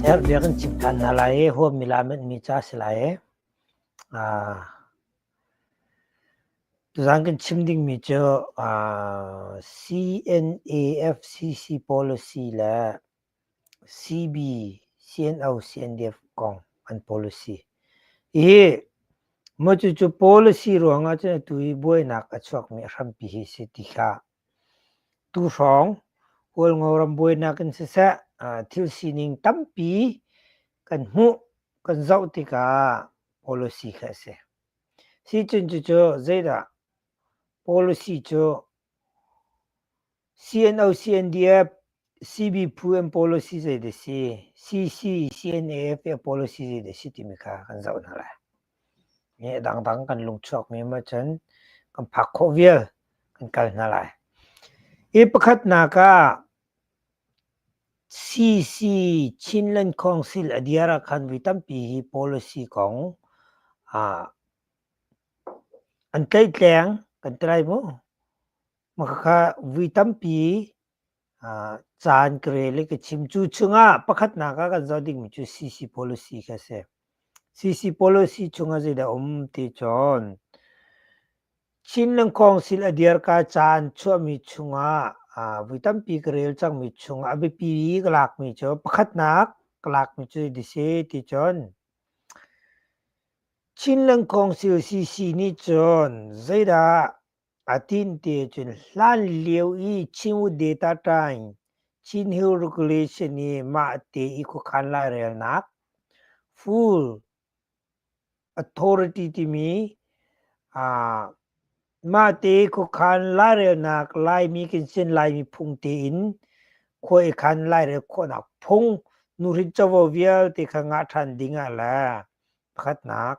Herh biak in chimh than hna lai i huammi lamutmi ca si lai i aa tuzaan kan chim dingmi cu aa CNAFCC policy le CB CNO CNDF kong an policy i maw cucu policy ruangah cun atu i buainak a chuakmi a hrampi hi si ti hlah. Tuhrawng, Kawlngo rambuainak in siseh thil sining tampi kan hmuh, kan zoh tikah policy kha a si. Sicun cucu zeidah policy cu CNO, CNDF, CBPU policy zeidah a si, CC, CNF policy zeidah a si timi kha kan zoh hna lai. Nge dangdang kan lung chuakmi maw cun kan phak khawh vial kan kal hna lai. Hi pakhatnak ah CC Chin Lankhuang Sil a diar ah khan vi tampi hi policy kong ah an tleihtleng kan tlai mu. Mah khakha vui tampi caan ka rel i ka chim. Cu chungah pakhatnak ah kan zoh dingmi cu CC policy kha a si. CC policy chungah zeidah a um ti cun Chin Lang Council a dirka caan chuahmi chungah vui tampi ka rel cangmi chungah a biapi ka lakmi cu pakhatnak ka lakmi cu ti si ti cun Chin Lang Council CC nih cun zeidah A tinte cun hlanlio i Chinwu data time Chinhill regulation i mahte i khuakhan lairelnak full authority timi uh, mahte khuakhan lairelnak Laimi kan sin Laimi phung tein khua i khan lairel khawhnak phung nuhrin covo vialte kha ngah ṭhan ding ah le pakhatnak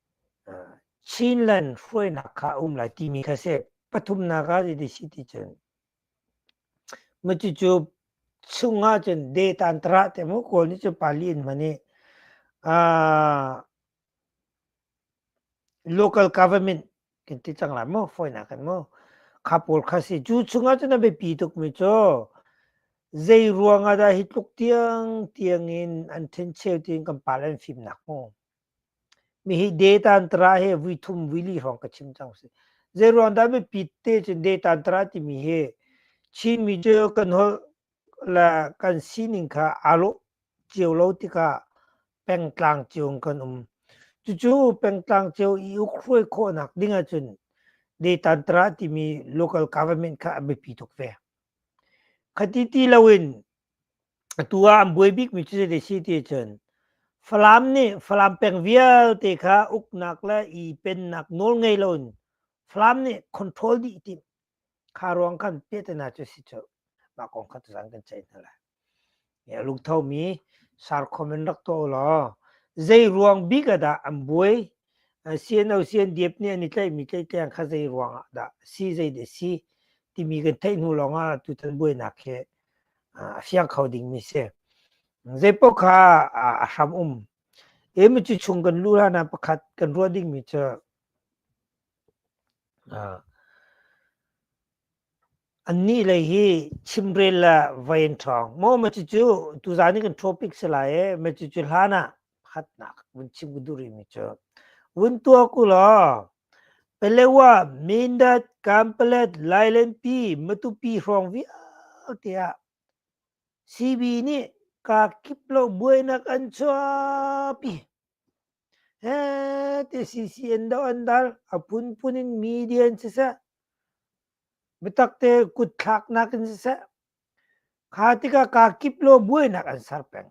Chinland hruainak kha a um lai timi kha si. Pathumnak ah zei si ti cun, cucu chung ah cun data an tarah te mu. Kawl nih cun pali in hman i local government kan ti cang lai mu, fawinak kan mu. Kha pawl kha si. Cu chung ah cun a biapi tukmi cu, zei ruang ah dah hi tluk tiang tiang in an thencheu tiin kan pal an fimnak mu. Mihi data an tara hi vuithum vuili hrawng ka chim cang si. Zei ruang dah mipi te cun data an tara timi hi Chinmi cu kan holh le kan sining kha aa lawh cio lo tikah pengtlang cio in kan um. Cucu pengtlang cio i ukhuai khawhnak ding ahcun data an tara timi local government kha a biapi tuk ve. Khati ti loin Atu ah an buai bikmi cu zei si ti cun Falam nih Falam peng vialte kha uknak le i pennak nawl ngei loin Falam nih control dih tim kha ruang kan peh te hna cu si cu mah kong kha tuzang kan ceih hna lai. Ya lungthomi sarkhom in rak taw law zei ruang bik ah dah an buai CNOCNDF nih an i tlaihmi tlaihtleng kha zei ruang ah dah si zei de si timi kan theih hnu lawng ah tutan buainak hi a fiang kho dingmi si. Zeipoh kha a hram um. Emi cu chung kan lu hlan ah pakhat kan ruah dingmi cu annih lei hi chimrel le vain ṭhawng. Maw ma cucu tuzan i kan topic si lai ee, ma cucu hlan ah phatnak vun chim ku duri mi cu vun tua ku la pelewa mindat kampalet lailenpi matupi hrawng vialte ah CB nih ka kip lo buainak an chuapi he te CC an do an dal a pun pun in media in si se mitakte kut thlak nak in si se kha tika ka kip lo buainak an sar peng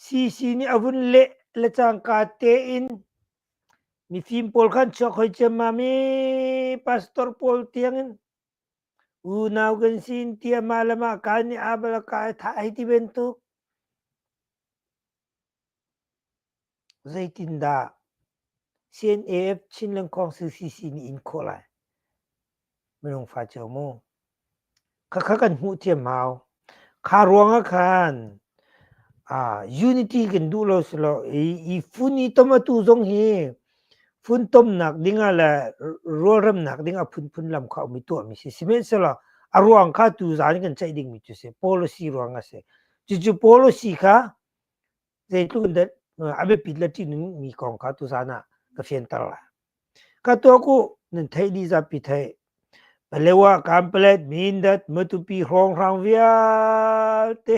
Sisi nih a vun leh le cangka tein, mifim pawl kha an chuak hoi ciammam i pastor pawl tiangin unau kan si in tiamah le mahka nih aa bal ah kaa i thah hei ti bantuk. Zeitindah CNAF Chinland Kong CCC nih in khawh lai? Minung fa cio mu. Khakha kan hmuh thiam hau. Kha ruangah khan uh, unity kan duh lo si lo i, i fun i tomatu zong hi fun tomnak dingah le rualremnak dingah phunphun lam kha um i tuahmi si. Sihmanhsehlaw a ruang kha tu zan in kan ceih dingmi cu si, policy ruang a si. Cucu policy kha zeitluk in a biapit le ṭihnung mi kong kha tuzan ah ka fianter lai. Ka tuah ku nan theih dih zapi theih. Palewa Kanpalet Mindat Matupi Hrawnghrang vialte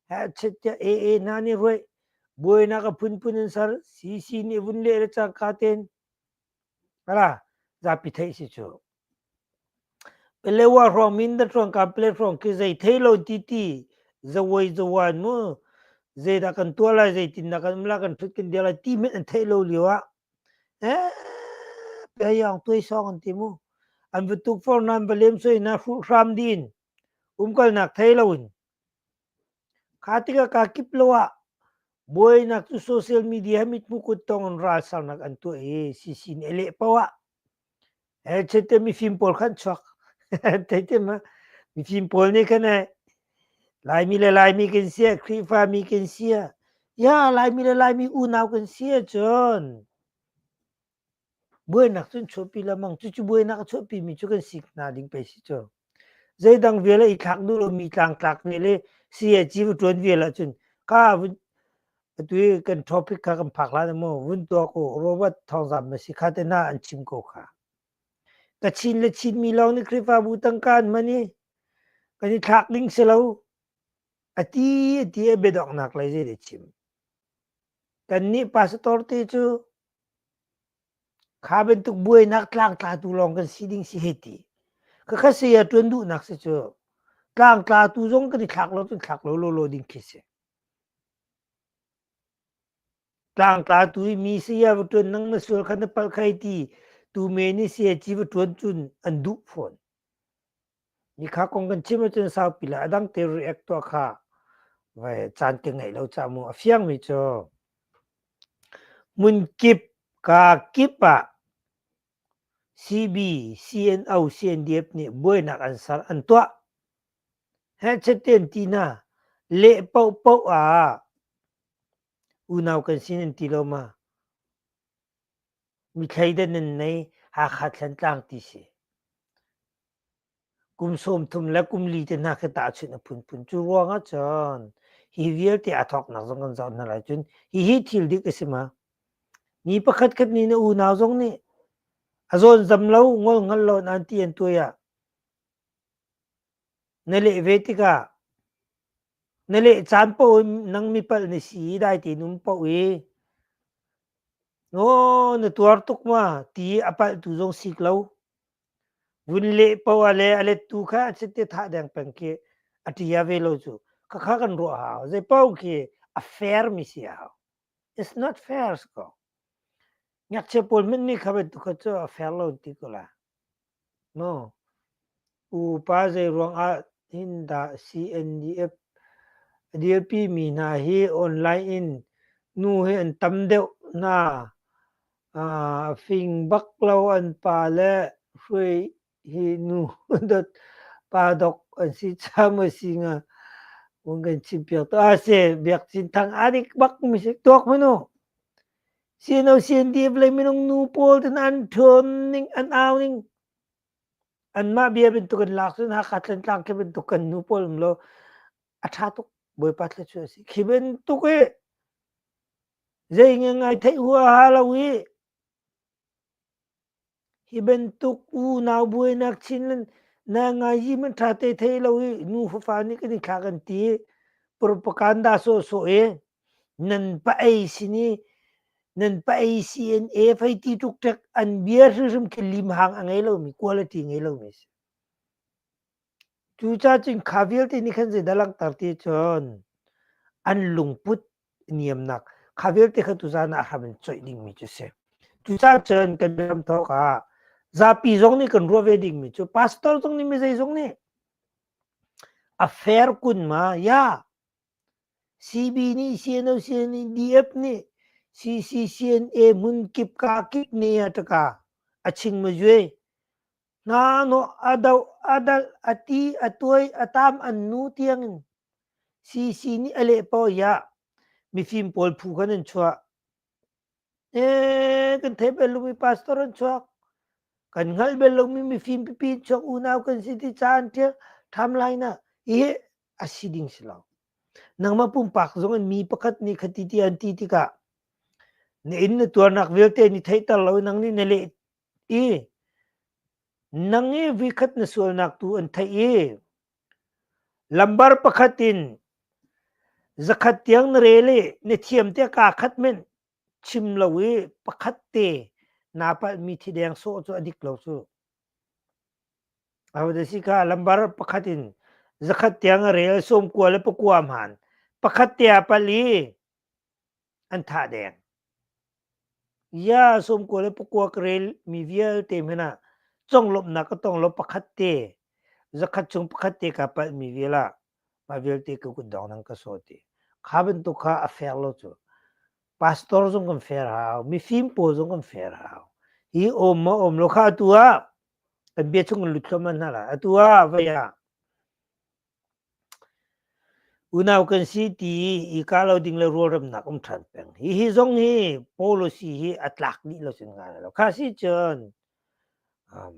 hachet tia AA hna nih ruai buainak a phunphun an ser cc nih vun leh le cak ka ten. Kala zapi theih si cu. Pelewa hrawng Mindat hrawng Kamplet hrawng khi zei thei lo ti ti zawai zawan mu zeidah kan tuah lai zeitin dah kan um lai kan hrut kan dir lai ti met an theih lo lio ah eh pehayang tuai song an ti mu an va tuk for nan va lem soi na hruh hram din umkalnak thei lo in Kha tikah kaa kip lo ah buainak cu social media he mithmuh kut tong in ralsarnak an tuah i sisin a leh paoh ah eh chete mifim pawl kha an chuak teitem ah mifim pawl nih khan eh Laimi le Laimi kan si ah Khrihfami kan si ah ya Laimi le Laimi unau kan si ahcun Buainak cu an chuahpi lengmang. Cucu buainak a chuahpimi cu kan sik hna ding pei si cu. Zeidang vial ah i thlak duh lomi tlangtlak vial i sayaci va ṭuan vial ahcun ka vun atu i kan topic kha kan phak hlan ah maw vun tuak u Robert thawngzamh na si kha te hna an chim ko kha. Ka chin le chinmi lawng nih Khrihfabu tangka an man i kan i thlak ding si lo a ti a ti a biadongnak lei zei dah chim. Kannih pastor te cu Kha bantuk buainak tlangtlatu lawng kan si ding si hei ti. Ka kha saya ṭuan duhnak si cu tlangtlatu zong kan i thlak lo cun thlak lo lawlaw ding khi si. Tlangtlatu i mi saya va ṭuan nang na sual kha na palh khai ti tu men i saya ci va ṭuan cun an duh fawn. Ni kha kong kan chim ahcun saupi le a dang te react tuah kha vai caan te ngeih lo ca mu a fiangmi cu mun kip ka kip ah CB, CNO, CNDF nih buainak an ser an tuah he chatten tina le poh poh ah unau kan sin an ti lo ma mi thleidan nan nei hakha thlan tlang ti si Kum sawmthum le kum li te hna khi tahchunh a phunphun. Cu ruangah cun hi vialte a thawknak zong kan zawn hna lai. Cun hihi thil dik a si ma? Mi pakhatkhat nih na unau zong nih a zawn zam lo, ngol ngal lo nan ti an tuai ah na leh ve tikah na leh caan paoh in nang mipalh na si i dai tein um paoh i aw na tuar tuk ma ti a palhtu zong sik lo. Vun leh poah le a lettu kha a sit i thah deng peng khi a ṭia ve lo cu. Khakha kan ruah hau. Zeipaoh khi a fairmi si a hau. It's not fair ko. Ngakchia pawl hmanmi kha bantuk kha cu a fair lo ti ko la. No. Upa zei ruangah hin dah CNDF a dirpi mi hna hi online in nu hi an tam deuh hna A fing bak lo an pa le hruai hi nu dot pa dok an si cham a si nga. Un kan chim piak to. A se biak chin thang adik bak mi se tuak manu. Sin o sin di blai minung nu pawl ten an thon ning an au ning. An ma bia ben tu kan lak sun ha ka tlen tlang ke ben tu kan nu pawl um lo. A tha tuk boy pa tle chu a si. Khi ben tuk e Zeihngei ngai theih huaha lo i, hi bantuk unau buainak chin na ngaizi hmanh ṭha te thei lo i nu fafa nih kan i thlah kan ti. Propaganda sawhsawh i nan pa-ei sin i nan pa-ei CNA fei ti tluk ṭek an bia hrimhrim khi limhang a ngei lomi, kual a ṭi ngei lomi a si. Cu cacing kha vialte nih khan zeidah langhter ti cun an lungput niamnak kha vialte kha tuzan ah hram in choih dingmi cu si. Cucacun kan ram thawk ah zapi zong nih kan ruah ve dingmi cu pastor zong nih mi zeizong nih a fair kun ma ya CB nih CNO CNE DF nih CCCNA hmun kip ka kip ne a taka a ching ma juai Ngahnawh a doh a dalh a ti a tuai a tam an nu tiangin CC nih a leh paw hiah mifim pawl phu kan an chuah. E kan thei bel lomi pastor an chuak. Kan ngal bel lomi mifim pipi an chuak unau kan si ti caan tia tham lai na hi a si ding si lo. Nangmah pumpak zong in mi pakhat nih khati ti an ti tikah na in na tuarnak vialte ni theihter lo nang nih na leh i nang i vikhat na sualnak tu an theih i lambar pakhat in zakhat tiang na re le na thiam te kaa khat men chim lo i pakhat te naa palhmi thi deng sawh cu a dik lo cu a si ka lambar pakhat in zakhat tiang a rel sawm kua le pakuam han pakhat te a pal i an tha deng ya som ko le pakua krel mi vialte mena conglom na ka tong lo pakhat te zakhat chung pakhat te ka pal mi viala ma vialte ka kun dong nang ka so ti kha ban tu kha a fair lo chu pastor zong kan fair hau mi fim po zong kan fair hau hi om ma om lo kha tu a kan bia chung kan lut lo man na la a tu a vaya Unau kan si ti i ka lo ding le rualremnak um ṭhan peng. Hihi zong hi policy hi a tlak dih lo sin ngan lo. Kha si cun, um,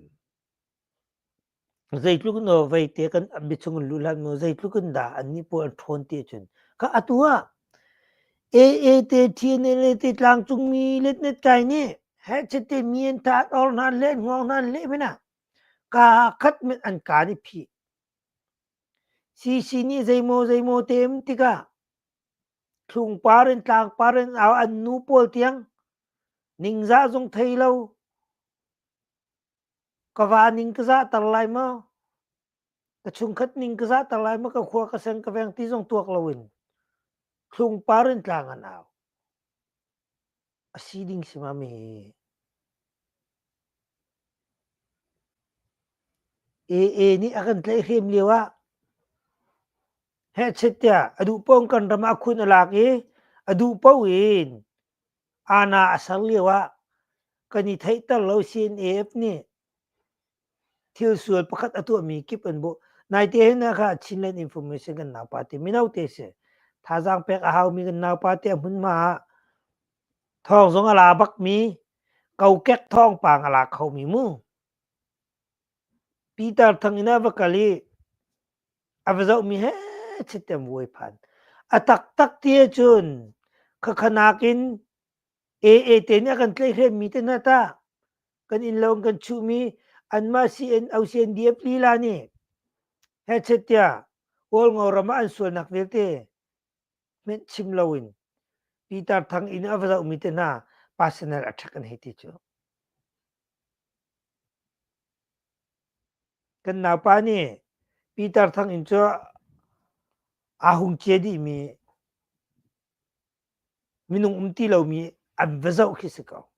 zeitluk no vete kan ambi chung in luhlan mu, zeitluk in dah annih puan an ṭhawn ti cun. Kha atu ah AA te, TNLA te, tlangcungmi letnet kai nih hechet te mien tat or hnan le hnuang hnan le hmena ka khat men an ka nih phih. Sisi nih zeimaw zeimaw teem tikah thlungpar in tlangpar in au an nu pawl tiang ningzah zung thei lo ka va ning ka zahter lai maw ka chungkhat ning ka zahter lai maw ka khua ka seng ka veng ti zong tuak loin thlungpar in tlang an au. A si ding si ma mi? AA nih a kan tlaihhrem lio ah hehchet tiah a duh paoh in kan ram ah khun a lak i a duh paoh in aana a ser lio ah kan i theihter lo CNAF nih thil sual pakhat a tuahmi kip an bu naite hin kha Chinland Information kan naupa te mino te si thazaang pek a haumi kan naupa te a hmunhma ah thawng zong a la bakmi kokek thawng pang a la khomi mu Peter thang ina va kal i a va zohmi he chitem vuai phan a taktak ti cun khakhanak in AA te nih a kan tleihhremmi te hna tah kan innlo in kan chuhmi anmah CN OCNDF lila nih hechet tiah Kawlngo ram ah an sualnak vialte hmenh chim loin Pitar Thang inn a va zohmi te hna personal attack an hei ti cu. Kan naupa nih Pitar Thang inn cu aa hung cie dihmi Minung um ti lomi an va zoh khi si ko.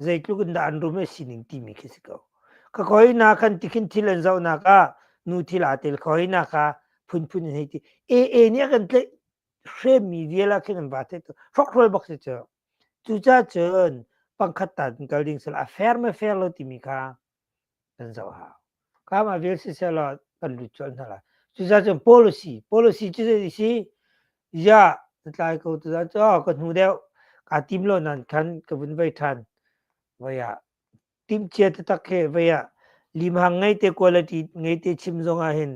Zeitluk in dah an rum i sining timi khi si ko. Ka koina kan ti khin thil an zohnak ah nu thil aa tel koina kha phunphun in hei ti. AA nih a kan tlaih hremmi vial ah khin an va theih tuk. Hrokhrol bak si cu. Cucacun pangkhat ta in kal ding sal a fair me fair lo timi kha kan zoh hau. Kamah vel sisehlaw kan lut colh hna lai. Cucacun policy, policy cu zei si? Ya, tlai ko tutan cu oh, ka hnu deuh ka tim lo nan khan ka vun vai than. Vai ah tim chia tatak he vai ah limhang ngei te quality ngei te chim zong ah hin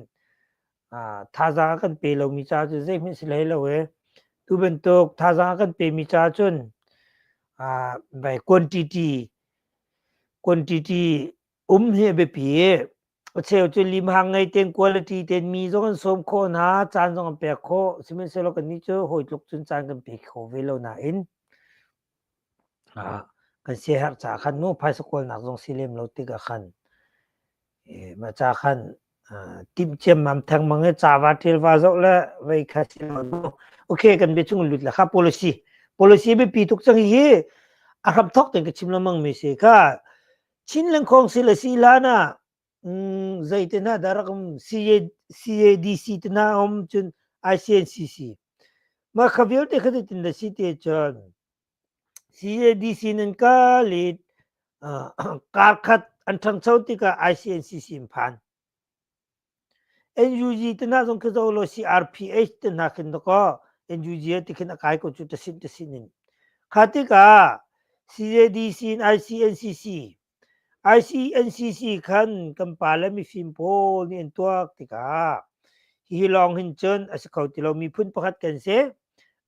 uh, thazang a kan pe lomi ca cu zeihmanh si hlei lo e. Tu bantuk thazang a kan pe mi ca cun uh, vai quantity quantity um hi a biapi acheu cu limhang ngei tein quality tein mi zong an sawm khawh hna caan zong an pek khawh sihmanhsehlaw kannih cu hawi tluk cun caan kan pe kho ve lo nain kan siaherh caah khan nu phaisa kawlnak zong si lem lo tikah khan ma ca khan timhciam mam theng mang i cava ṭhelva zoh le vei kha thil okay kan bia chung lut le kha policy policy biapi tuk cang hi a hram thok ten ka chim la mang mi se ka chin leng khong si le si la na zei te na darak um CADC te na om cun ICNCC ma khavial te khadi tin da si te cun CADC nan kal i kar khat an ṭhangcho tikah ICNCC in phan. NUG te hna zong khi zoh law CRPH te hna khin dakaw NUG ti khin a kai ko cu tasin tasin in. Kha tikah CADC in ICNCC ICNCC khan kan pa le mifim pawl nih an tuak tikah hi lawng hin cun a si kho ti lo miphun pakhat kan si.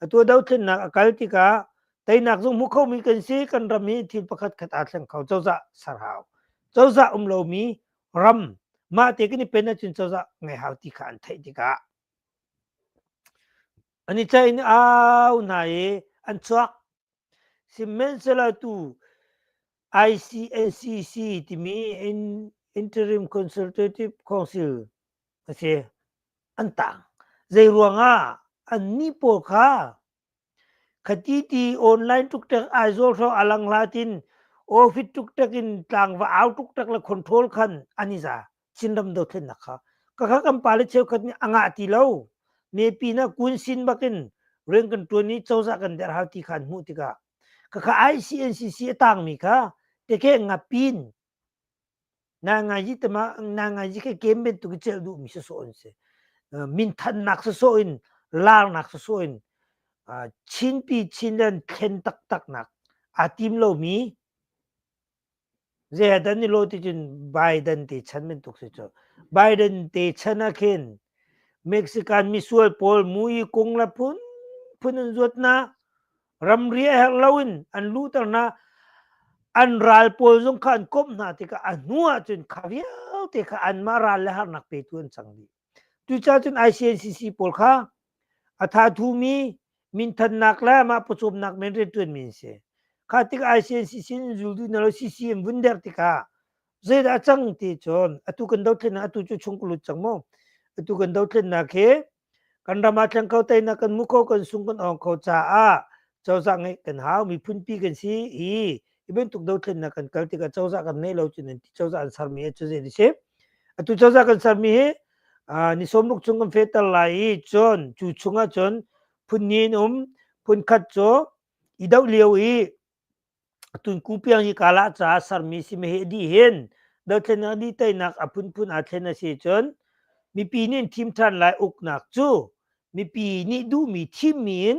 Atu dothlennak a kal tikah teinak zung hmu khomi kan si kan ram hi thil pakhat khat aa thleng kho cozah sarhau cozah um lomi ram mah te kan i pen ahcun cozah ngai hau ti kha an theih tikah an i tlain au hna i an chuak sihmanhsehlaw tu ICNCC timi Interim Consultative Council a si an tang zeiruangah an ni pawl kha khati ti online tuk tek ai zol hro alang la tin office tuk tek in tlang va au tuk tek la control khan ani za Chinram dothlennak kha kakha kan pale cheukhat nih a ngah ti lo me pin ah kun sin bak in rian kan tuan i cozah kan der hal ti khan hmuh tikah kakha ICNCC a tangmi kha teke ngapin nai ngaji tema nai ngaji ke kem ben tu ki cel du mi so on se min than nak so in lar nak so in chin pi chin dan thlen tak tak nak a tim lo mi Zeadan ni lo ti cun Biden te chan bantuk si cu. Biden te chan ah khin Mexican misual pawl mui kung le phun phun an zuat na ramri a herh lo in an luhter na an ral pawl zong kha an komh hna tikah a hnu ah cun kha vialte kha anmah ral le harnak petu an cang dih. Cucacun ICNCC pawl kha a thathumi minthannak le mah pawcawmnak men riantuanmi an si. Kha tikah ICNCC in zul duh na lo CCM vun der tikah zeidah a cang ti cun atu kan dothlennak atu cu chung ka lut cang mu. Atu kan dothlennak hi kan ram ah tleng ko teinak kan mu kho kan sung kan ong kho caah cozah ngeih kan hau miphunpi kan si i i bantuk dothlennak kan kal tikah cozah kan ngeih lo cun ti cozah an sermi hi cu zei ni si atu cozah kan sermi hi ni sawmruk chung kan fehter lai i cun cu chungah cun phun hnih in um phun khat cu i doh lio i tun kupiang hi kala caah sermi si me hi di hin dothlennak di teinak a phunphun aa thlen a si cun mipi nih thim ṭhan lai uknak cu mipi nih duhmi thimmi in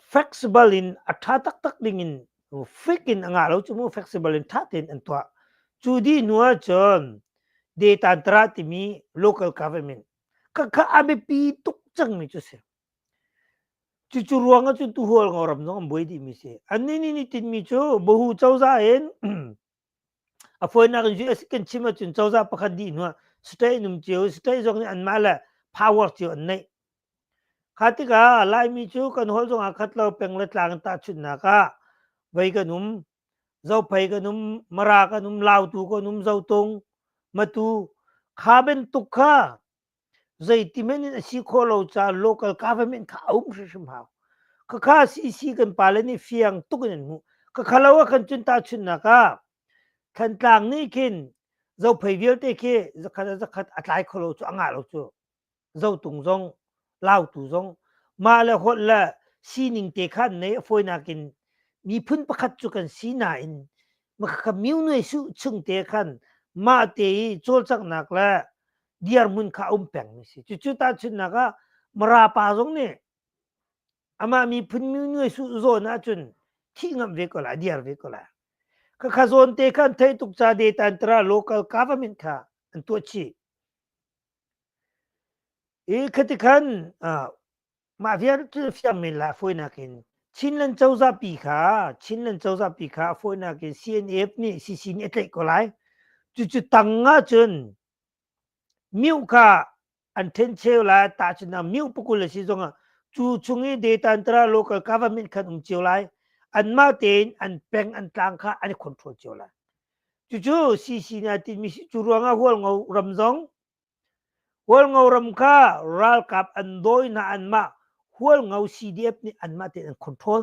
flexible in a ṭha taktak dingin frik in a ngah lo cu mu flexible in ṭha tein an tuah. Cu dih hnu ahcun data tara timi local government kakha a biapi tuk cangmi cu si. Cucu ruang ahcun tuhual ngawram zong an buai dihmi si. Annih nih nitinmi cu Bahu cozah in A fawinak in US kan chim ahcun cozah pakhat dih hnuah state an um cio state zong nih anmah le power cio an neih. Kha tikah Laimi cu kan holh zongah khat lo peng le tlang in tahchunhnak ah voi kan um zophei kan um mara kan um lautu kan um zotung matu kha bantuk kha Zeitimen in a si khawh lo caah local government kha a um hrimhrim hau. Khakha CC kan pale nih fiang tuk in an hmuh. Khakha lo ah kan cun tahchunnak ah Thantlang nih khin zophei vialte khi zakhat a zakhat a tlai kho lo cu a ngah lo cu. Zotung zong, Lautu zong mah le holh le sining te kha an nei a fawinak in miphun pakhat cu kan si nain makhakha myu nuai su chung te khan mah te i cawlcanghnak le dirhmun kha a um pengmi si cucu tahchunhnak ah marapa zong nih amah miphun nuai su zawn ahcun thih ngamh ve ko la diar ve ko la khakha zawn te khan thei tuk ca data an tara local government kha an tuah chih i khati khan mah vialte fiang men la foinak in chinland cozah pi kha chinland cozah pi kha foinak in cnf nih cc nih a tlaih ko lai cucu tang ah cun Mioh kha an ṭhen cheu lai. Tahchun ah mioh pakul a si zongah cu chung i data in tara local government khan um cio lai. Anmah tein an peng an tlang kha an i control cio lai. Cucu CC nih a tinmi si. Cu ruangah Hualngo ram zong Hualngo ram kha ralkap an dawi hna anmah Hualngo CDF nih anmah tein an control.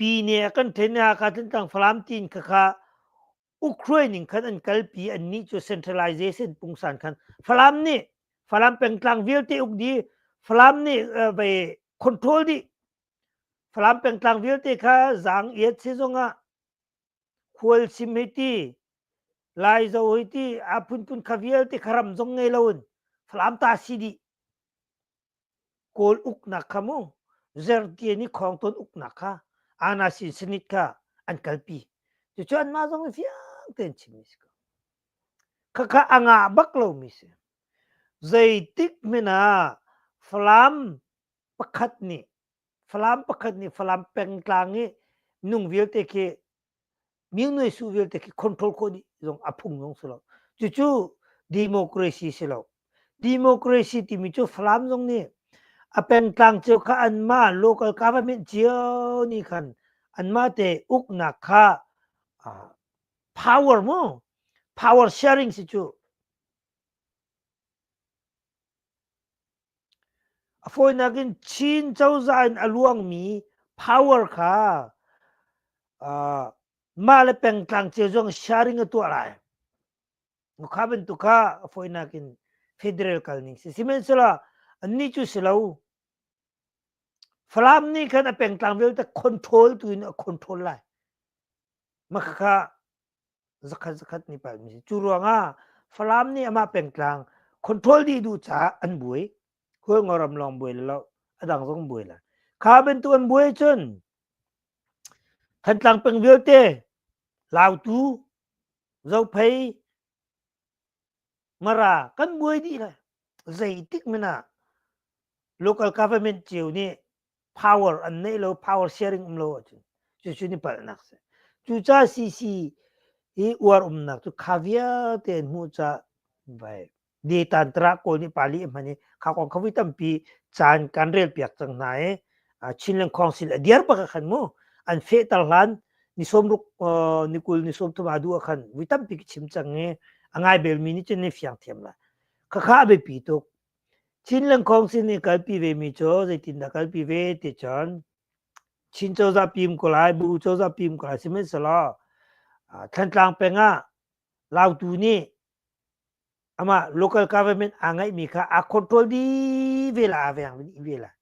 Pine kan thenak ah Tlantlang Falam tin khakha Ukraine in khan an kalpi annih cu centralization pungsan khan Falam nih Falam pengtlang vialte uk di Falam nih bei control di Falam pengtlang vialte kha zang iat si zongah khual sim hei ti lai zo hei ti a phun kun kha vialte kharam zong ngei loin Falam ta si dih kawl uknak kha mu zertian i khawng ton uknak kha ana sin sinit kha an kalpi cu cu an mah zong fiang ten chimmi si ko khakha anga bak lo mi si zeitik mena falam pakhat nih falam pakhat nih falam pengtlang i nung vialte khi Mingnuai su vialte khi control ko ni zong a phung zong si lo. Cucu democracy si lo. Democracy timi cu Falam zong nih a pengtlang cio kha anmah local government cio nih khan anmah te uknak kha uh, power mu power sharing si cu A fawinak in Chin cozah in a luangmi power kha mah le pengtlang cia zong sharing a tuah lai. Kha bantuk kha a fawinak in federal kalning si. Sihmanhsehlaw annih cu si lo. Falam nih khan a pengtlang vialte control tu in a control lai. Makhakha zakhat zakhat ni pa mi cu ruangah Falam nih amah pengtlang control dih duh caah an buai hul ngo ram lawng buai lo adang zong buai la kha bantu an buai cun Thantlang peng vialte Lautu Zophei Mara kan buai dih lai zeitik mina local government cio nih power an nei lo power sharing um lo ahcun cucu ni palhnak si cuca cc i uar umnak cu kha vialte an hmuh ca vai di tan tara kawl ni pali hman i kha kong khawi tampi caan kan rel piak cang hna i Chinland Council a diar pa khan mu an fe tar hlan ni som ruk ni kul ni som thuma du khan wi tampi ki chim chang i angai bel mi ni chen ni fiang thiam la kha kha be pi tuk Chin Lengkhawng sin i kalpi vemi cu zeitindah kalpi ve ti cun Chin cozah pim ko lai, bu cozah pim ko lai sihmanhsehlaw Thlantlang peng ah lautu nih amah local government aa ngeihmi kha aa control dih ve lai, a veng dih ve lai.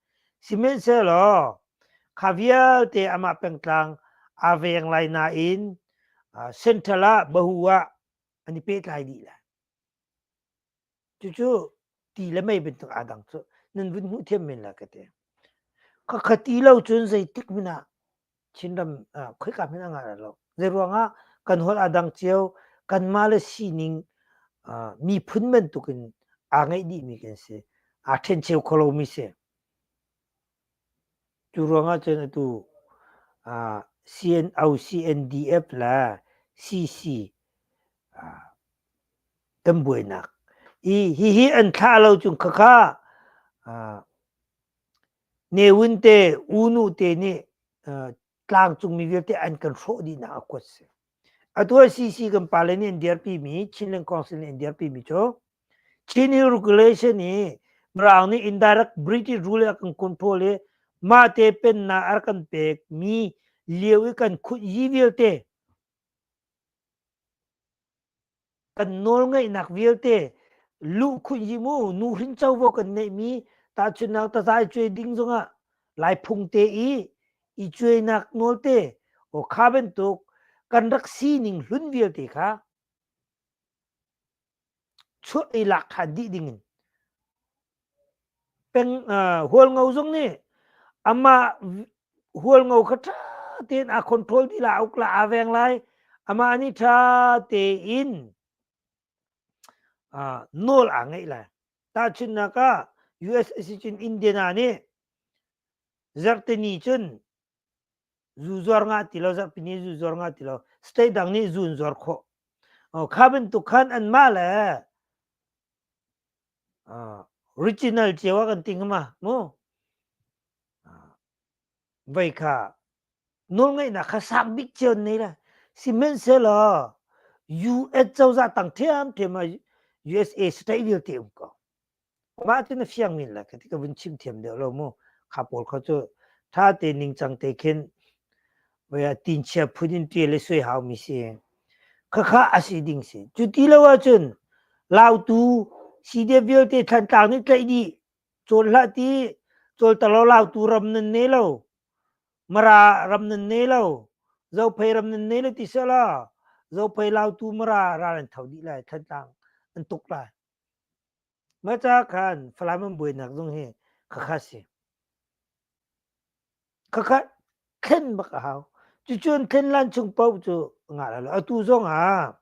Sihmanhsehlaw kha vialte amah pengtlang aa veng lai nain central ah bahu ah an i pehtlai dih lai. Cucu ti le mei bantuk aa dang cu nan vun hmuh thiam men la ka ti. Ka kha ti lo cun zeitik hmanh ah Chinram ah khoika hmanh ah ngah rah lo. Zei ruangah kan holh aa dang cio kanmah le sining uh, miphun bantuk in aa ngeih dihmi kan si. Aa ṭhencheu kho lomi si. Cu ruangah cun atu CNO-CNDF le CC kan buainak i hihi an thlah lo cung khakha Newin te, U Nu te nih tlangcungmi vialte an kan hrawh dihnak a kuat a si. Atu ah CC kan pale nih an dirpimi, Chinland Council nih an dirpimi cu Chin hi regulation i Mirang nih indirect British rule a kan control i mahte pennak a rak kan pekmi lio i kan khut yi vialte kan nawlngeihnak vialte lu khuihim u nu hrin covo kan neihmi tahchunnak tazai cuai ding zongah laihphung te i i cuainak nawlte o kha bantuk kan rak sining hlun vialte kha chuah i lak khan dih dingin peng hualngo zong nih amah hualngo kha ṭha tein aa control ti la uk la aa veng lai amah nih ṭha tein nawl aa ngeih lai tahchunhnak ah usa cun india nih zarhteni cun zu zuar nga ti lo zapini zu zuar nga ti lo state dang nih zu an zuar khawh kha bantuk khan an mah le original cio a kan ting ma mu vậy kha nol ngai na kha sak bik cio nei la simen se lo US cozah tang thiam thiam a USA state dil te um ko Mah cu na fiang men la khi ti ka vun chim thiam deuh lo mu. Kha pawl kho cu tha te ningcang te khin voi a tin chia phun in tial i sui hau mi si. Khakha a si ding si. Cu ti lo ahcun lautu CDF vialte thlantlang nih tlaih dih cawl hlah ti cawltalo lautu ram nan ne lo. Mara ram nan ne lo. Zophei ram nan ne lo ti sala. Zophei lautu mara ral an tho dih lai. Thlantlang an tuk lai. Maca khan Falam an buainak zong hi khakha si. Khakha thlen bak a hau. Cucun thlen lan chung paoh cu ngah lo. Atu zong ah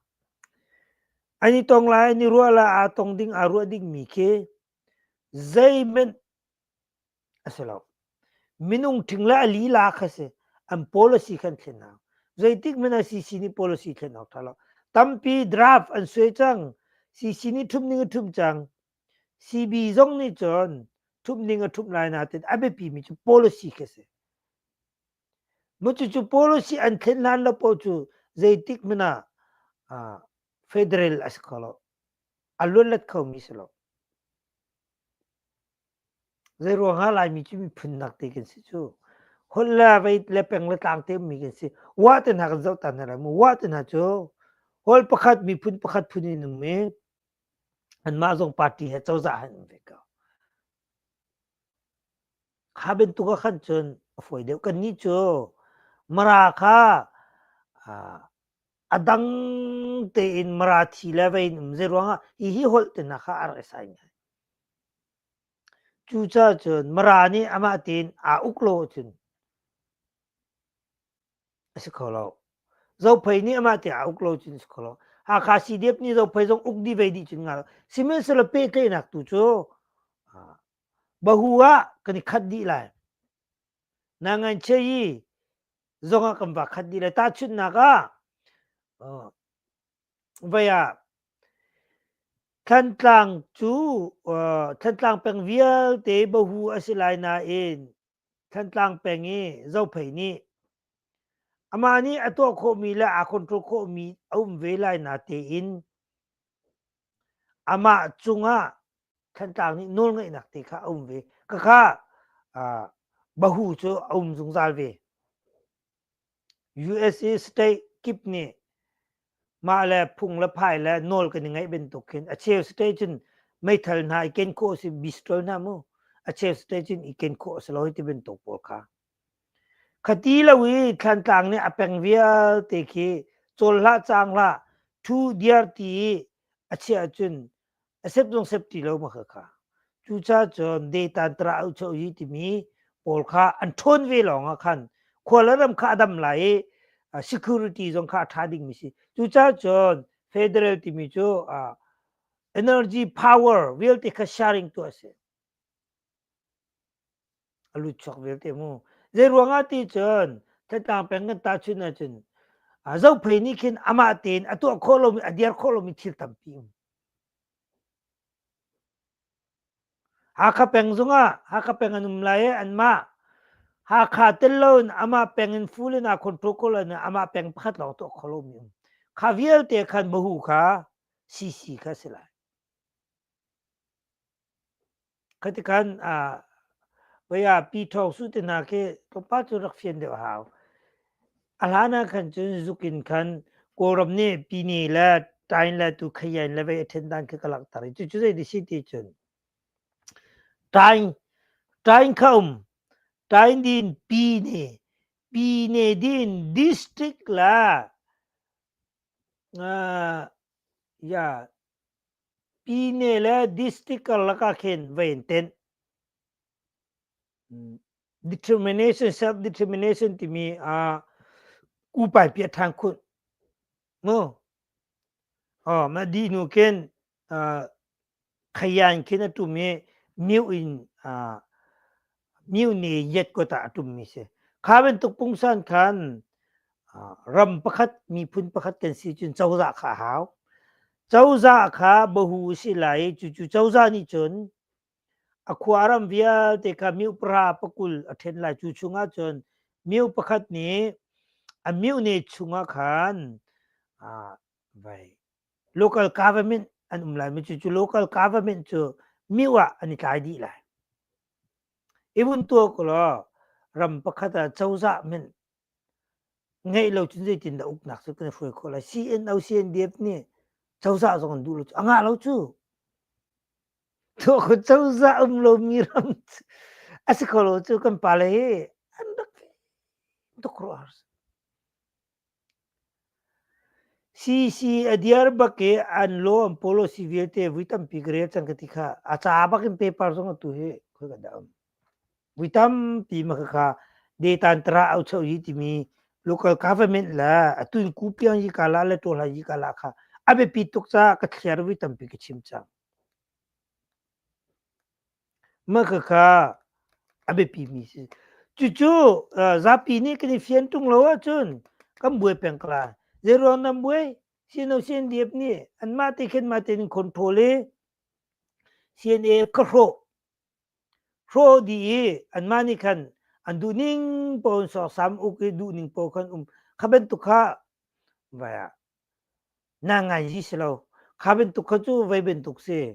an i tong lai, an i ruah lai, aa tong ding, aa ruah dingmi khi zeihmanh a si lo. Minung ṭhing le a lila kha si, an policy khan thlen hau. Zeitik men ah CC nih policy thlen awk ṭha lo. Tampi draft an suai cang. CC nih ṭhumh ning a ṭhumh cang. CB zong nih cun ṭhumh ning a ṭhumh lai nain a biapi mi cu policy khi si. Mu cucu policy an thlen hlan lo paoh cu zeitik men ah ah, federal a si kho lo. A luanlat kho mi si lo. Zeiruangah Laimi cu miphun nak te kan si cu. Holh le vei le peng le tlang temi kan si. Wah te hna kan zoh ta hna lai mu. Wah te hna cu holh pakhat, miphun pakhat phun in um i anmah zong party he cozah han um ve ko. Kha bantuk ah khan cun a fawi deuh. Kannih cu Mara kha ah, a dang tein Marathi le vei in um. Zeiruangah hihi holh te hna kha a rak i saim ngai. Cucacun Mara nih amah tin aa uk lo ahcun a si kho lo. Zophei nih amah tiah aa uk lo cun a si kho lo. Hakha CDF nih Zophei zong uk dih ve dih cun nga lo. Sihmanhsehlaw pehtlaihnak tu cu ah, bahu ah kan i khat dih lai. Nanganchei zong ah kan va khat dih lai. Tahchunhnak ah, Vai ah Thantlang cu uh, Thantlang peng vialte bohu a si lai nain Thantlang peng i Zophei nih amah nih a tuah khawhmi le aa control khawhmi a um ve lai na tein amah cungah Thantlang nih nawlngaihnak te kha a um ve. Khakha uh, bohu cu a um zungzal ve. USA state kip nih mah le phung le phai le nawl kan i ngaih bantuk khin a cheu state cun meithal hna i ken khawh si bistol hna mu a cheu state cun i ken khawh si lo ti bantuk pawl kha khati lo i thlantlang nih a peng vialte khi col hlah cang hlah thu diar ti a chiah cun a sep zong sep ti lo ma kha kha cucacun detan tra u cho hi timi pawl kha an ṭhawn ve lawng ah khan khuala ram kha a dam lai i security zong kha a ṭha ding mi si cucacun federal timi cu energy power vialte kha sharing tu a si a lut chuak vialte mu. Zeiruangah ti cun Thatang peng kan ta chun ahcun Zophei nih khin amah tein a tuah khawh lomi a dir khawh lomi thil tampi um. Hakha peng zungah Hakha peng an um lai i anmah Hakha tel loin amah peng in full in a control ko lai amah peng pakhat lawng tuah khawh lomi um. Kha vialte khan mahu kha CC kha si lai. Khatikan ah vaya pi thawng su te hna khi kapa cu rak fian deuh hau. A hlan ah khan cun zuk in khan Kawlram nih pini le tain le tu khayain le vei a ṭhen dan khi ka langhter i cucu zei dih si ti cun tain tain kha um tain din pi ne pi ne din district la uh, ya Pyine le district karlak ah khin va in tenh. Determination, self-determination timi uh, kupai piah than khun. Mu. Oh, ma di nu kin uh, khayan kin atumi new in uh, myu ni yet ko ta atum mi si kha bantuk pungsan khan ram pakhat miphun pakhat kan si cun cozah kha hau cozah kha bahu si lai cucu cozah nih cun akhua ram vialte kha miu para pakul a ṭhen lai cu chungah cun miu pakhat nih a miu ne chungah khan vai local government an um lai mi cucu local government cu miu ah an i tlai dih lai i vun tuah ko law ram pakhat ah cozah min ngeih lo cun zeitin da uknak cu kan i hruai khawh lai CNO CNDF nih cozah zong an duh lo cu a ngah lo cu tuah ko cozah um lomi ram a si kho lo cu kan pale hi an rak tuk ruah har CC a diar bak i an law an policy vialte vui tampi ka rel cang ka ti kha. A ca bak in paper zong atu hi khoi ka da um. Vui tampi ma khakha data an tara au chau hi timi local government la atun ku piang yi kala le to la yi kala kha a biapit tuk ca ka thliar vui tampi ka chim cang. Makhakha a biapimi si. Cucu zapi nih kan i fian ṭung lo ahcun kan buai peng ko lai. Zeiruang nan buai? Sino CNDF nih anmah te khin mah tein in control i CNA ka hrawh. Hrawh dih i anmah nih khan an duhning paoh in soksam uk i duhning paoh khan um. Kha bantuk kha vai ah naa ngai rih si lo. Kha bantuk kha cu voi bantuk si.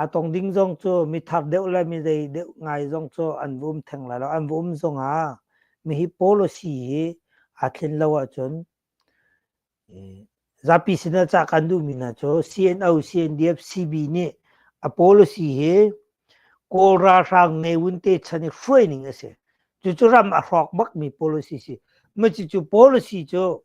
a tong ding zong cu mi thar deuh le mi dei deuh ngai zong cu an va um theng lai lo an va um zong ah mi hi policy hi a tlin lo ahcun zapi sinah cah kan duhmi hna cu CNO CNDF CB nih a policy hi kawl ralhrang ne wun te chan i hruai ning a si cucu ram a hrawk bakmi policy si maci cu policy cu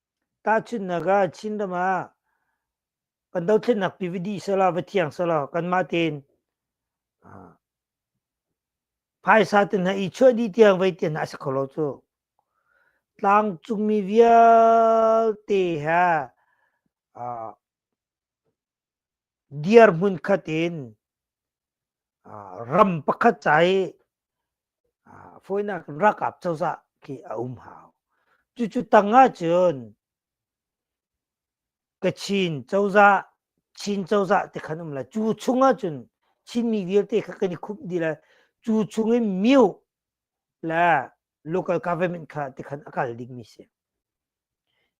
Tahchunhnak ah Chinram ah kan dothlennak pi va dih selaw, va thiang selaw kanmah tein phaisa te hna i chuah dih tiang vai tian hna a si kho lo cu. Tlangcungmi vialte he dirhmun khat in ram pakhat ca i fawinak in ralkap cozah khi a um hau. Cucu tang ahcun Kachin cozah, Chin cozah te khan um la. Cu chung ahcun Chinmi vialte kha kan i khumh dih lai. Cu chung in Myo le local government kha ti khan a kal dingmi si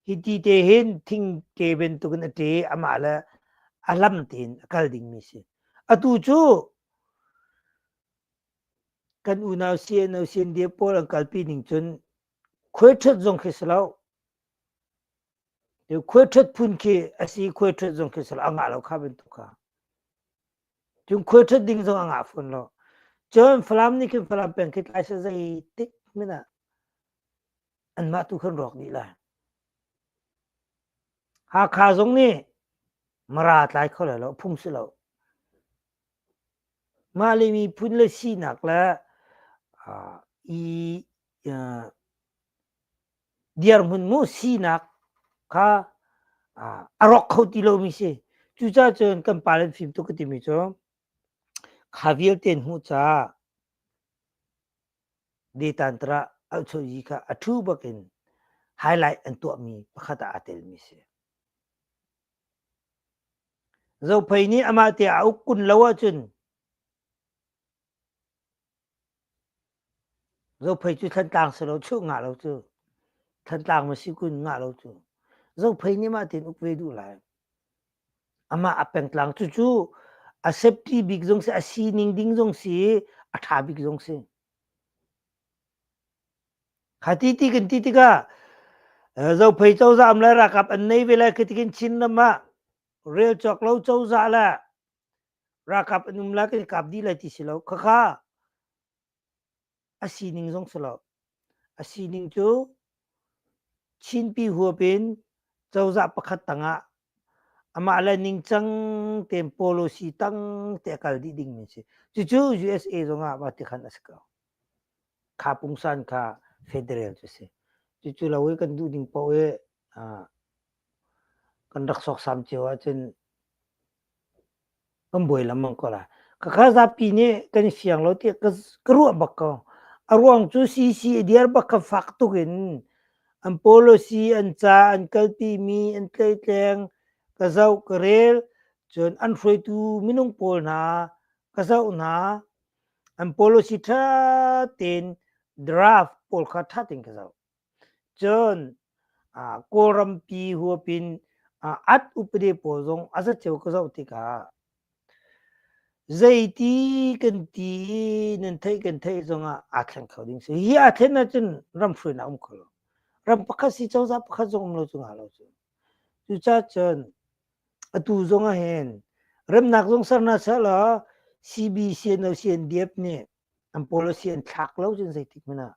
hi ti te hin thing te bantukin a te amah le a lam tein a kal dingmi si atu cu kan unau CNO CNDF pawl an kalpi ning cun khuaithat zong khi silo khuaithat phun khi asi khuaithat zong khi silo a ngah lo kha bantuk kha Cung khual ṭhat ding zong a ngah fawn lo. Cun Falam nih khin Falam peng khi tlaisa zei tik hmin ah anmah tu khan rawk dih lai. Hakha zong nih Mara tlai kho lai lo, phung si lo. Mah le miphun le sinak le i dirhmun mu sinak kha a rawk kho ti lomi si. Cucaah cun kan pa le fim tuk ka timi cu kha vialte hmuh caah detan tara alchoji kha a thu bakin highlight an tuahmi pakhat ah aa telmi si. Zophei nih amah te a uk kun lo ahcun Zophei cu Thantlang si lo, chuh ngah lo cu. Thantlang ma si kun ngah lo cu. Zophei nih mah tein uk ve duh lai. Amah a pengtlang. Cucu a safety bik zong si, a sining ding zong si, a ṭha bik zong si. Kha ti ti kan ti tikah Zophei cozah um le ralkap an nei ve lai khi tikin Chinram ah rel cawk lo cozah le ralkap an um lai kan i kap dih lai ti si lo khakha a sining zong si lo a sining cu chinpi huap in cozah pakhat tangah amah le ningcang tein policy tang te a kal dih dingmi si cucu usa zongah mah ti khan a si ko kha pungsan kha federal cu si cucu lo i kan duh ning paoh i kan rak soksam cio ahcun Kan buai lengmang ko lai. Ka kha zapi nih kan i fiang lo tiah ka ruah bak ko. A ruang cu CC a dir bak kha fak tuk in an policy, an ca an kalpimi an tleitleng, ka zoh, ka rel. Cun an hruaitu minung pawl hna ka zoh hna, an policy ṭha tein draft pawl kha ṭha tein ka zoh. Cun Kawlrampi huapin at upade pawl zong a zat cio ka zoh tikah zeiti kan ti i nan theih kan theih zongah aa thleng kho ding si. Hi aa thlen ahcun ram hruainak a um kho lo. Ram pakhat si cozah pakhat zong um lo cu hnga lo cu. Cucacun atu zong ahhin remnak zong ser hna seh law CBCNO CNDF nih an policy an thlak lo cun zeitik hmanh ah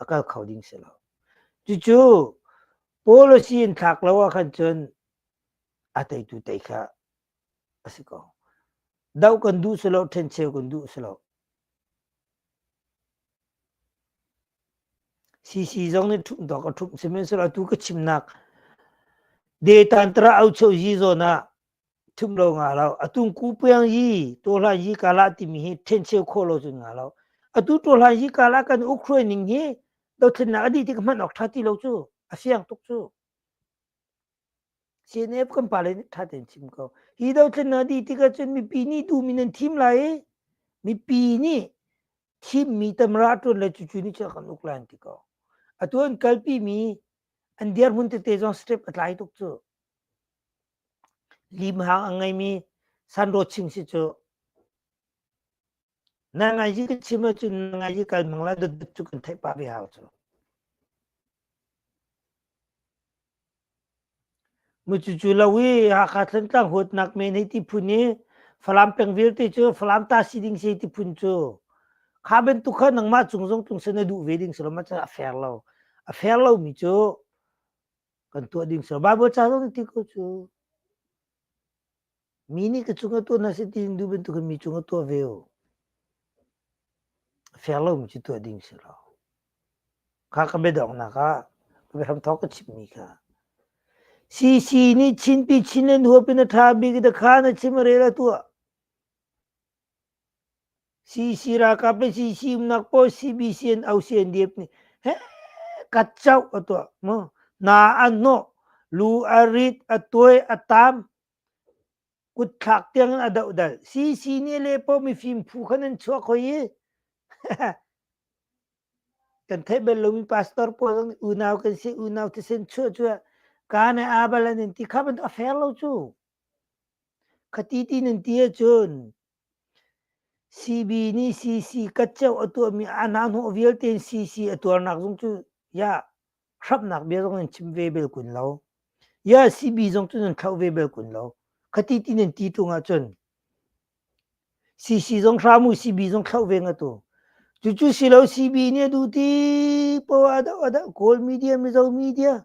a kal kho ding si lo. Cucu policy in thlak lo ah khan cun a teitu tei kha a si ko. Doh kan duh si lo, ṭhencheu kan duh si lo. CC zong nih ṭhumh tawk a ṭhumh sihmanhsehlaw atu ka chimnak data tara aucho zi zawn ah thum lo nga lo atung ku piang yi to hlan yi kala timi hi then cheu kho lo chun nga lo atu to hlan yi kala kan ukraine ning hi do thin na adi ti man ok thati lo chu asiang tuk chu CNF kan pale ni thaten chim ko hi do thin na di ti ka chun mi pi ni tu mi nan thim lai mi pi ni thim mi tamra tun le chu chu ni cha kan uklan ti ko atuan kalpi mi an diar mun te te zong step atlai tuk chu Limhang a ngeimi sanrawching si cu na ngaizi kan chim ahcun na ngaizi kal mang la dotdot cu kan theih pah ve hau cu. Mucucu lo i Hakha Thlantlang huatnak men hei ti phun i Falam peng vialte cu Falam ta si ding si ti phun cu kha bantuk kha nangmah cung zong tlungsen na duh ve ding si lo ma cu a fair lo. A fair lomi cu kan tuah ding sir Bible ca zong ti ko cu mi nih ka chung a tuah na si ti du bantuk mi chung a tuah ve o fair lo mi cu tuah ding si lo kha ka bedong na ka ram thok ka chip mi kha si si ni chin pi chin len huap in a tha bik da kha na chim re la tuah Sisi ralkap le sisi umnak pawl CBC an ausian diep nih heh kat coh a tuah mu. Na an hnawh, lu a rit, a tuai, a taam, kutthlak tiang in a dohdal. CC nih le pawl mifim phu khan an chuak hoi i kan theih bel lomi pastor pawl zong nih unau kan si, unau thisen chuah cuah kaa ne aa bal an in ti kha bantuk a fair lo cu. Khati ti nan ti ahcun CB nih CC katceo a tuahmi anahnawh vialte in CC a tuarnak zong cu ya hramnak bia zong nan chim ve bel kun lo. Ya CB zong cu nan thlauh ve bel kun lo. Khati ti nan ti tung ahcun CC zong hram u CB zong thlauh ve nga tu. Cucu si lo CB nih a duh ti poah a doh a doh Kawl media Mizo media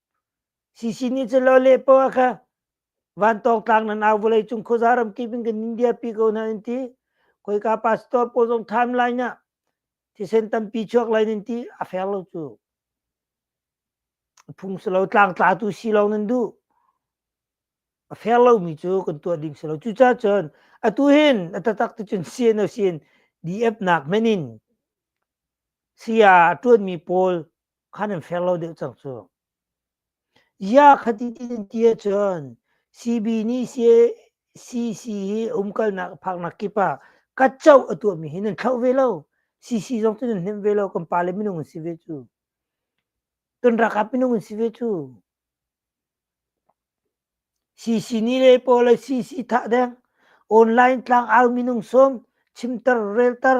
Sisi nih cun lo lehpaw kha vantawng tlang nan au vawlei cung khuaza ramkip in kan nin diarpi ko na an ti. Khoika pastor pawl zong time line ah thisen tampi chuak lai nan ti a fer lo cu. A phung si lo, tlang tlatu si lo nan duh. A fer lomi cu kan tuah ding si lo. Cucaah cun atu hin a tatak tu cun CNO sin DF nak men in saya ṭuanmi pawl khan an fair lo deuh cang cu ya khati ti ahcun CB nih CC hi umkalnak phaknak kip ah katco a tuahmi hi nan thloh ve lo CC zong cu nan hnemh ve lo kan pa le minung an si ve cu tun rakap minung an si ve cu CC ni le po le CC thah deng online tlang au minung som chimter relter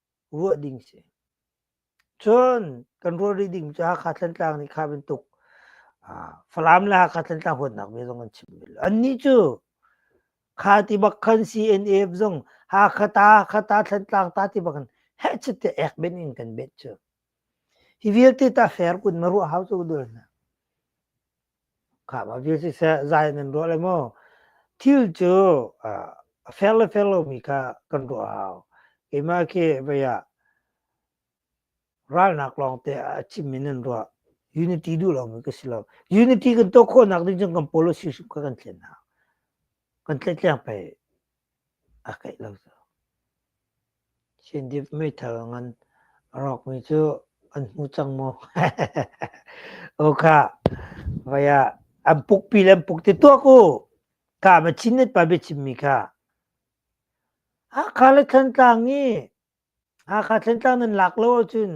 ruah ding si. Cun kan ruah rih ding cu Hakha Thantlang nih kha bantuk Falam le Hakha Thantlang huatnak ve zong an chim vel. Annih cu kha ti bak khan CNF zong Hakha ta, Hakha ta, Thantlang ta ti bak in hechet te ek ben in kan bet cu. Hi vialte ta fair kun ma ruah hau cu dul na. Khama vial siseh zai nan ruah le maw thil cu a fer le fer lomi kha kan ruah a hau. Keimah khi vei ah ralnak lawngte a cimmi nan ruah. Unity duh lomi ka si lo. Unity kan tuah khawhnak ding cun kan pawl le si hrim kha kan thlen hau. Kan tletleng pei. a keih lo cu. Sindip meithal ngan a rawkmi cu an hmu cang maw? O kha, vai ah an pukpi le an puk ti tuak u. Ka ma chin net pa bia chimmi kha. Hakha le Thantlang i Hakha Thantlang nan lak lo ahcun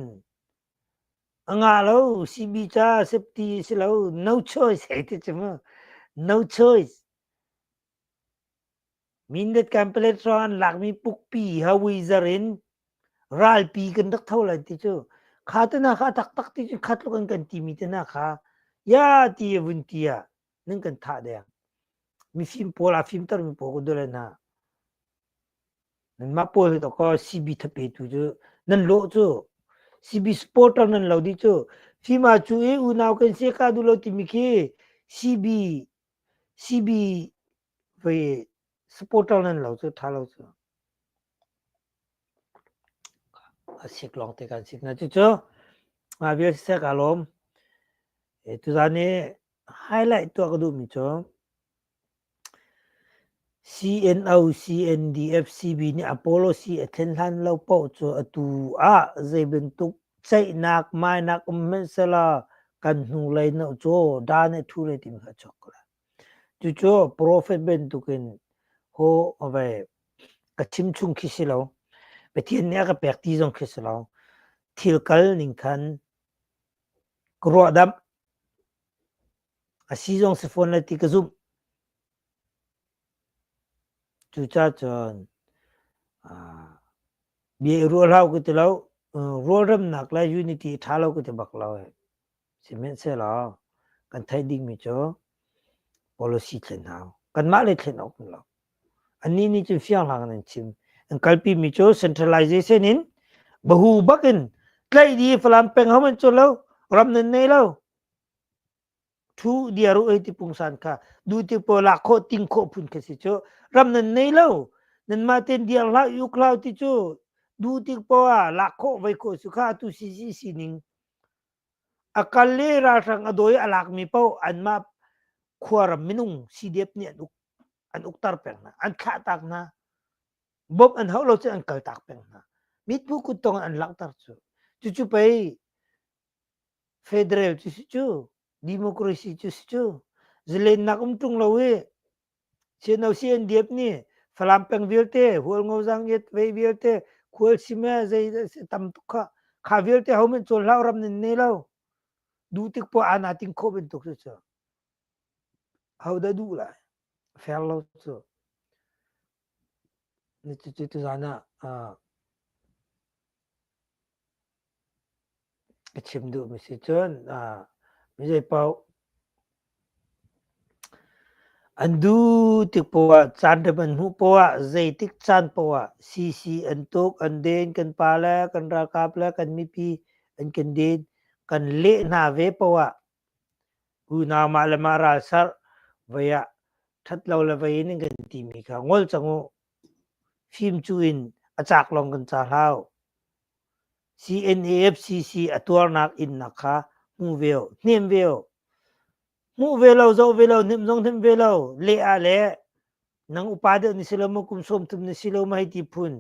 a ngah lo CB ca safety si lo no choice hei ti cu mu. No choice. Mindat kan palet ro an lakmi pukpi hawui zar in ralpi kan rak tho lai ti cu. Kha te na kha a taktak ti cu khat luk an kan timi te na kha ya ti a vun ti ah nan kan thah deng. Mifim pawl a fimter mi pawl kun dole na. Nan mah pawl hi to ko CB thapetu cu nan lo cu CB supporter nan lo di cu fima cu e unau kan se ka du lo timi khi CB CB Voi supporter nan lo cu tha lo cu asik long te kan sik na cucu nga vial sisek alom tuzan ni highlight tua ka duh mi cu CNO CNDF CB nih Apollo C a thlen hlan lo poh cu atu ah zei bantuk ceihnak mainak um hmensela kan hnulei no cu da nih thu re tim kha chok ko la Cucu profet bantukin aw a vei ka chimchung khi si lo. Pathian nih a ka pek ti zong khi si lo. Thil kal ning khan ka ruahdamh. A si zong si fawn le ti ka zumh. Cucacun bia i ruah hlah u ka ti lo. Rualremnak le unity i ṭha lo ka ti bak lo. Sihmanhsehlaw kan theih dingmi cu policy thlen hau. Kanmah le thlen awk lo. Annih nih cun fianghlang in an chim. An kalpimi cu centralization in bahu bak in tlaih di Falam peng hom an cu lo. Ram nan nei lo. Thu diaru ei ti pungsan kha du ti po la kho ting kho phun kha si cu ram nan nei lo. Nan ma ten diang hlau uk hlau ti cu du ti po ah la kho vai kho su kha tu si si sining A kal i ralhrang a dawi a lakmi paoh anmah khuaram minung CDF nih an uk an ukter peng hna an thlahtak hna bawmh an hauh lo cun an kaltak peng hna mitpu kut tawng an langhter cu cucu pei federal cu si cu democracy cu si cu zalennak um ṭung lo i Chin OCNDF nih Falam peng vialte hual ngo zang yet ve vialte khual sime zei tam tuk kha kha vialte hom in col hlau ram nin ne lo du tik po ana ting kho ben tuk cu ho da du lai fer lo cu ni tu tu zan ah ka chim duhmi si cun mizei paoh an duh tik poah caan rem an hmuh poah zeitik caan poah CC an tuk an den kan pa le kan ralkap le kan mipi an kan den kan leh hna ve poah unau mah le mah ralsarh vai ah ṭhat lo le vai in an kan timi kha ngol cang u fim cu in a cak lawng kan ca hlau CNAFCC a tuarnak innak kha hmuh ve u, hnem ve u. Hmuh ve lo, zoh ve lo, hnemh zong hnemh ve lo, leh ah le nang upa deuh ni si lo maw, kum sawm tum ni si lo maw hei ti phun.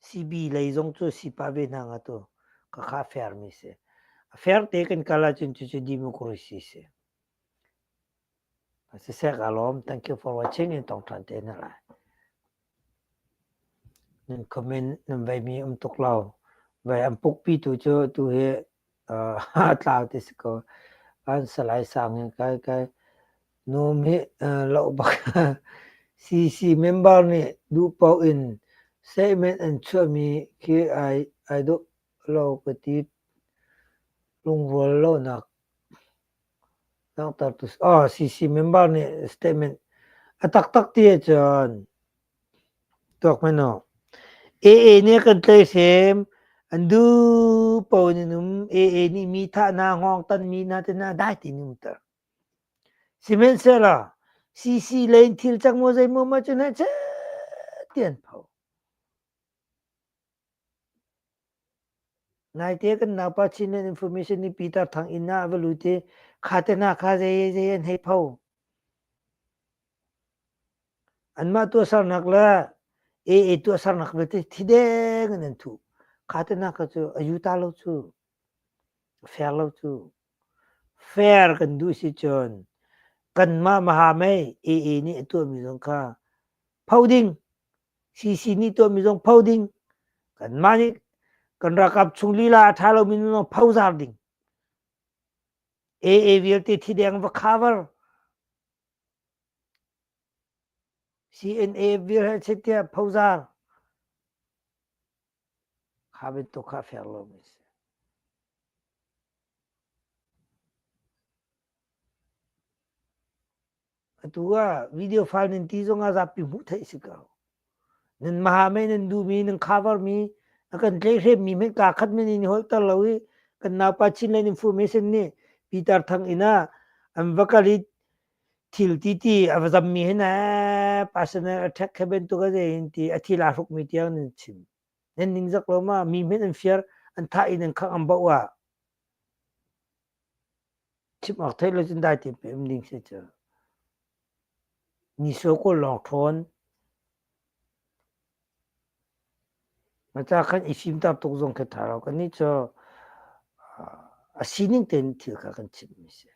Sibi lei zong cu sipa ve hna nga tu ka kha fermi si. A ferte kan kal ahcun cucu democracy si. Siseh kaa lawm. Thank you for watching. In tong ṭhan te na lai. Nunkhum in nan veimi um tuk lo. Vai an pukpi tu cu tu hi tlau ti si ko. An salai sang in kai kai num hi lau bak. CC member nih duh paoh in statement an chuahmi khi ai duh lo ka ti. Lungrual lonak CC member nih statement a taktak ti ahcun tuak hmanh u. AA nih a kan tlaihhrem an duh paoh in an um AA nih mi thah hna hngawngtan mi hna te hna dai ti in um ter sihmanhsehlaw CC lei in thil cang maw zeimaw mah cu na chet ti an pho Naite kan naupa Chinland Information i Pitar Thang inn ah va lut i kha te hna kha zei zei an hei pho. Anmah tuahsernak le AA tuahsernak vialte thideng in an thuh. Kha te hna kha cu a yu ta lo cu. Fair lo cu. Fair kan duh si cun kanmah maha mei AA nih a tuahmi zong kha pho ding CC nih tuahmi zong pho ding kanmah nih kan ralkap chung lila a ṭha lomi zong pho zar ding AA vialte thi deng va kha var CNA vir he chit tiah phozar kha bantuk kha fer lomi si atu ah video file nan ti zong ah zapi hmuh theih si ko nan maha mei nan duhmi nan khavarmi a kan tlei hremmi men ka khat men in holter lo i kan naupa chinland information ni peter thang ina an vakalit thil ti ti a zammi hin personal attack khaben tu ka ze hin ti a thila hruk mi tiang nan chim nan ning zak lo ma mi men an fiar an tha in an khang am ba wa Chim awk theih lo cun dai tein ka um ding si cu. Niso kaw lawng ṭhawn. Maca kan i fimter tuk zong khi ṭha lo. Kannih cu a sining tein thil kha kan chimmi si.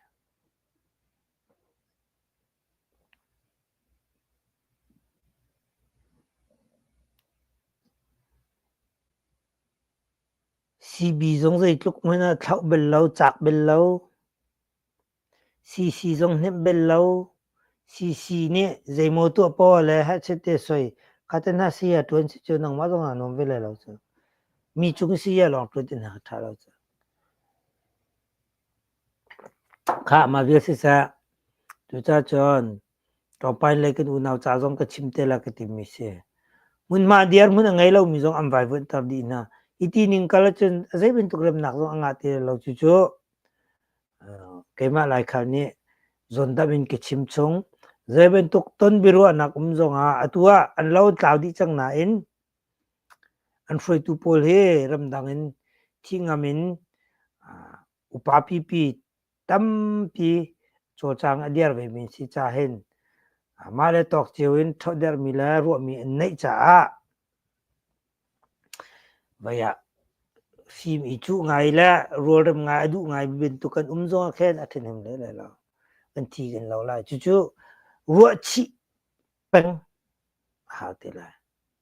Sibi zong zeitluk hmanh ah thlauh bel lo, cak bel lo. CC zong hnemh bel lo. CC nih zeimaw tuahpaw le hachet te soi khaten ha saya ṭuan si cu nangmah zong ah nuam ve lai lo cu. Mi cung saya lawng ṭuan ti hna ṭha lo cu. Khah ma vial siseh, cucacun Ka pai le kan unau ca zong ka chim te la ka timi si. Hmunhma dirhmun a ngei lomi zong an vaivuanhter dih hna. Hi ti ning kal ahcun a zei bantuk remnak zong a ngah ti lo. Cucu keimah laikhal nih zondamh in ka chim chung. Zei bantuk ton biaruahnak um zongah atu ah an lo tlau dih cang nain an hruaitu pawl hi ramdang in thi ngam in upa pipi tampi cawcang a dir vemi si cahin mah le tawk cio in ṭhawhderhmi le ruahmi an neih caah vei ah fim i cuh ngai le rualrem ngai a duh ngaimi bantuk kan um zong ah khin a ṭhahnem lele lo kan thi kan lo lai cucu ruahchih peng a hau te lai